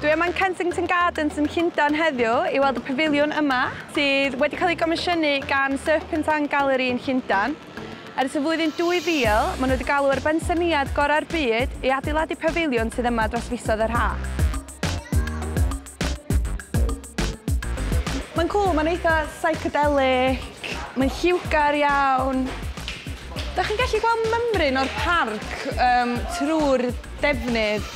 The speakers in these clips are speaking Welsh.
Dwi yma yn Kensington Gardens yn Llundain heddiw i weld y pafiliwn yma, sydd wedi cael ei gomisiynu gan Serpentine Gallery yn Llundain. Ers y flwyddyn 2000, maen nhw wedi galw ar bensaernïaid gorau'r byd i adeiladu pafiliwn sydd yma dros fisoedd yr haf. Mae'n cool, mae'n eitha psychedelic, mae'n lliwgar iawn. Da chi'n gallu gweld mymryn o'r parc um, trwy'r defnydd,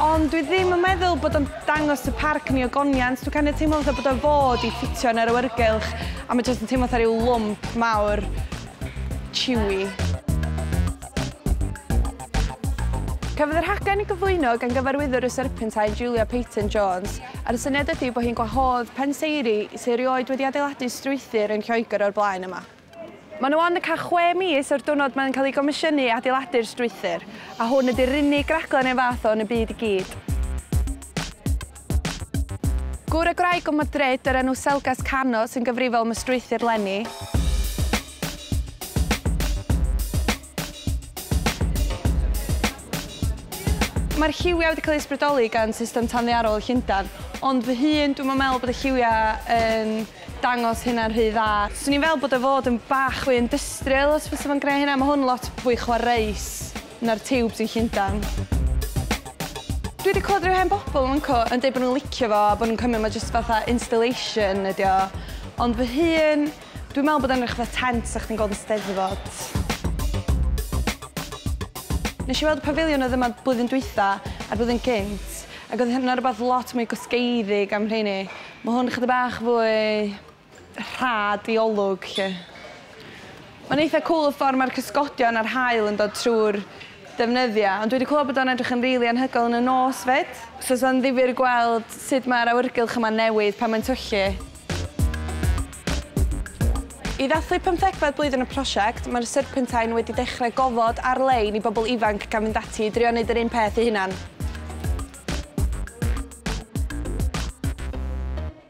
ond dwi ddim yn meddwl bod o'n dangos y parc ni o goniant. Dwi'n kind of teimlo fatha bod o'n fod i ffitio yn yr awyrgylch, a mae jyst yn teimlo fatha rhyw lwmp mawr Chewy. Cafodd y rhaglen ei gyflwyno gan gyfarwyddwr y Serpentine, Julia Peyton Jones, a'r syniad ydy bod hi'n gwahodd penseiri sydd erioed wedi adeiladu strwythur yn Lloegr o'r blaen yma. Mae nhw ond yn cael chwe mis o'r diwrnod mae'n cael ei gomisiynu i adeiladu'r strwythur, a hwn ydy'r unig raglen o'i fath o yn y byd i gyd. Gŵr a gwraig o Madrid o'r enw Selgas Cano sy'n gyfrifol am y strwythur leni. Mae'r lliwiau wedi cael eu ysbrydoli gan system tanddearol y Llundain, ond fy hun, dwi'n meddwl bod y lliwiau yn dangos hynna'n rhy dda. Swn i'n fel bod y fod yn bach fwy industrial os fysa fo'n gwneud hynna, mae hwn lot fwy chwaraeus. Na'r tiwbs yn Llundain. Dwi wedi clywed rhyw hen bobl yn fynco yn deud bod nhw'n licio fo a bod nhw'n cymryd ma' jyst fatha installation ydi o. Ond fy hun, dwi'n meddwl bod o'n edrych fatha tent 'sa chdi'n gweld yn Steddfod. Nes i weld y pafiliwn oedd yma blwyddyn dwytha a'r blwyddyn gynt ac oedd hynna rwbath lot mwy gwsgeiddig am rheini. Ma' hwn chydig bach fwy rhad i olwg 'lly. Mae'n eitha cwl y ffordd mae'r cysgodion a'r haul yn dod trwy'r defnyddia, ond dwi 'di clywed bod o'n edrych yn rili anhygoel yn y nos 'fyd. So 'sa'n ddifyr gweld sut mae'r awyrgylch yma'n newid pan mae'n tyllu. I ddathlu pymthegfed blwyddyn y prosiect, mae'r Serpentine wedi dechrau gofod ar-lein i bobl ifanc gan fynd ati i drio neud yr un peth eu hunan.